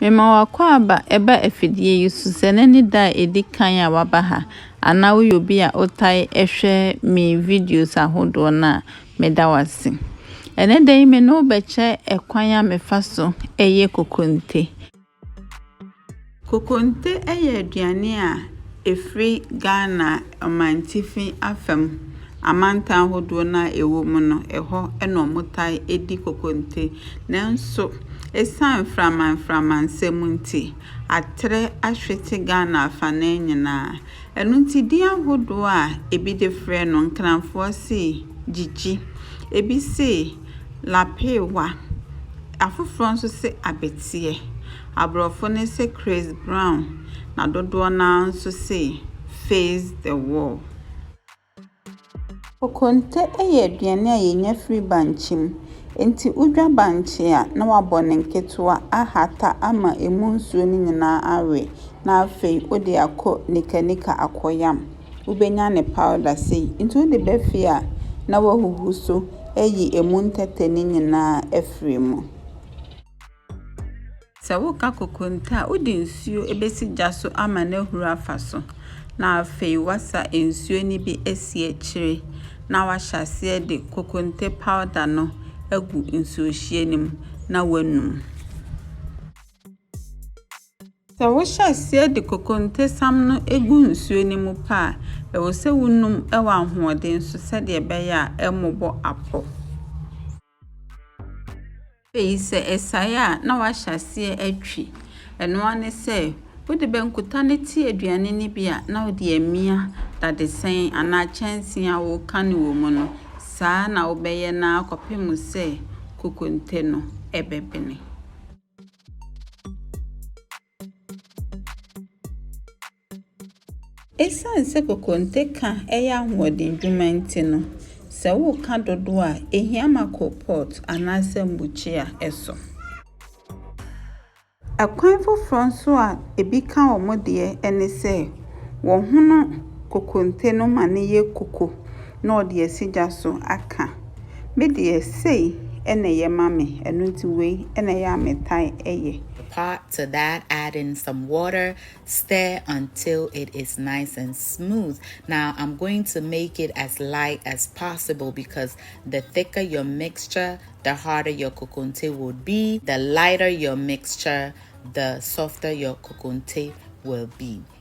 Mema w'akwaaba ba afidie yi so sɛ nnɛ ne da a ɛdi kan a woaba ha anaa woyɛ obi a wotae hwɛ me videos ahodoɔ no a, meda wo ase. Ɛnɛ da yi me ne wo bɛkyɛ ɛkwan a mefa so yɛ kokonte. Kokonte yɛ aduane a ɛfiri Ghana ɔmantifi afam amantam hodoɔ no a ɛwɔ mu no, ɛhɔ na wɔtae di kokonte. Nanso, ɛsiane mframa mframa nsɛm nti, aterɛ ahwete Ghana afanaa nyinaa. Ɛno nti, din ahodoɔ a ebi de frɛ no, Nkranfoɔ se gyigyi, ebi se lapeewa, afoforɔ nso se abeteɛ, aborɔfo no se Chris Brown, na dodoɔ no ara nso se face the wall. Kokonte yɛ aduane a yɛnya firi bankye mu. Nti wodwa bankye a na wabɔ no nketewa ahata ama ɛmu nsuo no nyinaa awe na afei wode akɔ nikanika akɔyam. Wobɛnya ne powder sei. Nti wode ba fie a na wahuhu so ayi ɛmu ntɛtɛ no nyinaa afiri mu. Sɛ woka kokonte a, wode nsuo bɛsi gya so ama no ahuru afa so, na afei woasa nsuo no bi asi akyire na woahyɛ aseɛ de kokonte powder no agu nsuohyeɛ no mu na woanum. Sɛ wohyɛ aseɛ de kokontesam no gu nsuo no mu pɛ a, ɛwɔ sɛ wonum wɔ ahoɔden so sɛdeɛ ɛbɛyɛ a ɛremmobɔ apɔ. Afei sɛ ɛsae a na wahyɛ aseɛ atwi. Ɛno ara ne sɛ, wode bankuta no te aduane no bi a, na wode amia dadesɛn anaa kyɛnsee a woka no wɔ mu no. Saa na wobɛyɛ no ara kɔpem sɛ kokonte no bɛbene. Esiane sɛ kokonte ka yɛ ahoɔden dwuma nti no, sɛ woka dodow a, ehia ma kɔ pot anaasɛ mbukyia so. Kwan foforɔ nso a ebi ka wɔn deɛ ne sɛ, wɔhono kokonte no ma no yɛ kuku. na ɔde asi gya so aka, Me deɛ, sei na ɛyɛ ma me, ɛno nti wei na ɛyɛ a metae yɛ. The pot to that add in some water stir until it is nice and smooth now I'm going to make it as light as possible because the thicker your mixture the harder your kokonte would be the lighter your mixture the softer your kokonte will be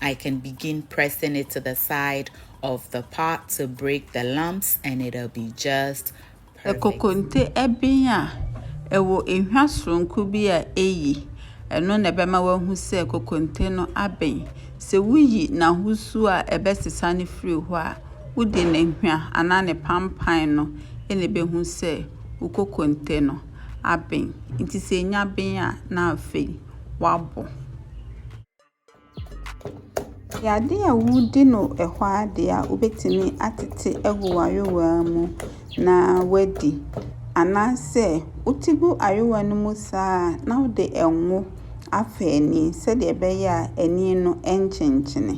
I can begin pressing it to the side of the pot to break the lumps and it'll be just perfect. Ɛkokonte ɛben a ɛwɔ ehwa soronko bi a eyi, ɛno na ɛbɛma woahu sɛ kokonte no aben. Sɛ wuyi n'ahosuo a ɛbɛsesa no firi hɔ a, wode n'ehwa anaa ne pampan no na ɛbɛhu sɛ wo kokonte no aben. Nti sɛ enya ben a, na afei woabɔ. Yadeɛ a wɔdi no hɔ ara deɛ a, wobɛtumi atete agu w'ayowaa mu na woadi. Anaasɛ wote gu ayowaa no mu saa a na wode ngo afa ani sɛdeɛ ɛbɛyɛ a ani no renkyenkyene.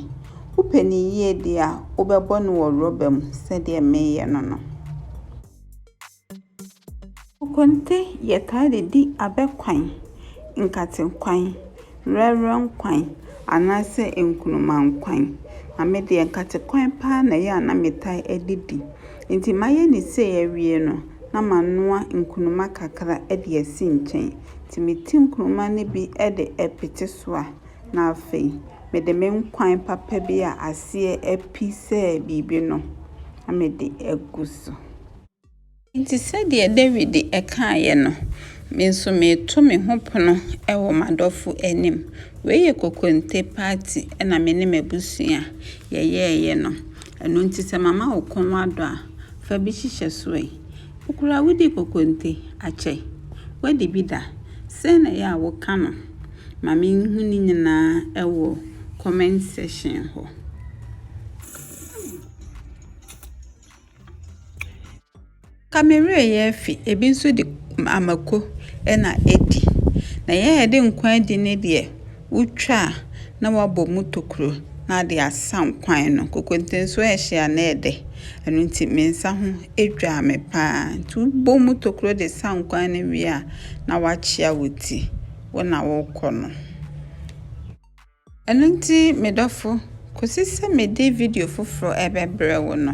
Wopɛ no yie deɛ a, wobɛbɔ no wɔ rɔba mu sɛdeɛ mereyɛ no no. Konte yɛ taa de di abɛ kwan, nkate kwan, werɛwerɛ kwan anaasɛ nkruma kwan. Na me deɛ nkate kwan paa na ɛyɛ a na me taa de di. Nti mayɛ no sei awie no, na ma noa nkruma kakra de asi nkyɛn. Nti me ti nkruma no bi de pete so a, na afei me de me nkwan papa bi a aseɛ api sɛ biribi no, na me de agu so. Enti sɛdeɛ Dawid kaeɛ no, me nso mereto me ho pono wɔ m'adɔfo anim. Wei yɛ kokonte party na me ne m'abusua yɛyɛeɛ no. Ɛno nti sɛ mama wo kɔn adɔ a, fa bi hyehyɛ so ɛ. Wo koraa wodi kokonte? Akyɛ, woadi bi da? Sɛn na ɛyɛ a woka no? Ma menhu ne nyinaa wɔ comment section hɔ. Ka me werɛ yɛ afi, ebi nso de amako na adi. Na yɛn a yɛde nkwa adi no deɛ, wotwa a na wɔabɔ mu tokuro na wɔde asam kwan no. Kokonte nso ɛhye a na ɛyɛ dɛ. Ɛno nti me nsa ho dwaa me pa ara. Nti wobɔ mu tokuro de sam kwan no wie a, na woakyea wo ti, wo na worekɔ no. Ɛno nti, me dɔfo, kosi sɛ mede video foforo rebɛbrɛ wo no,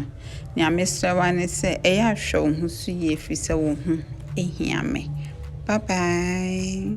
nea mesrɛ wo ara ne sɛ ɛyɛ a hwɛ wo ho so yie efiri sɛ wo ho hia me. Bye bye!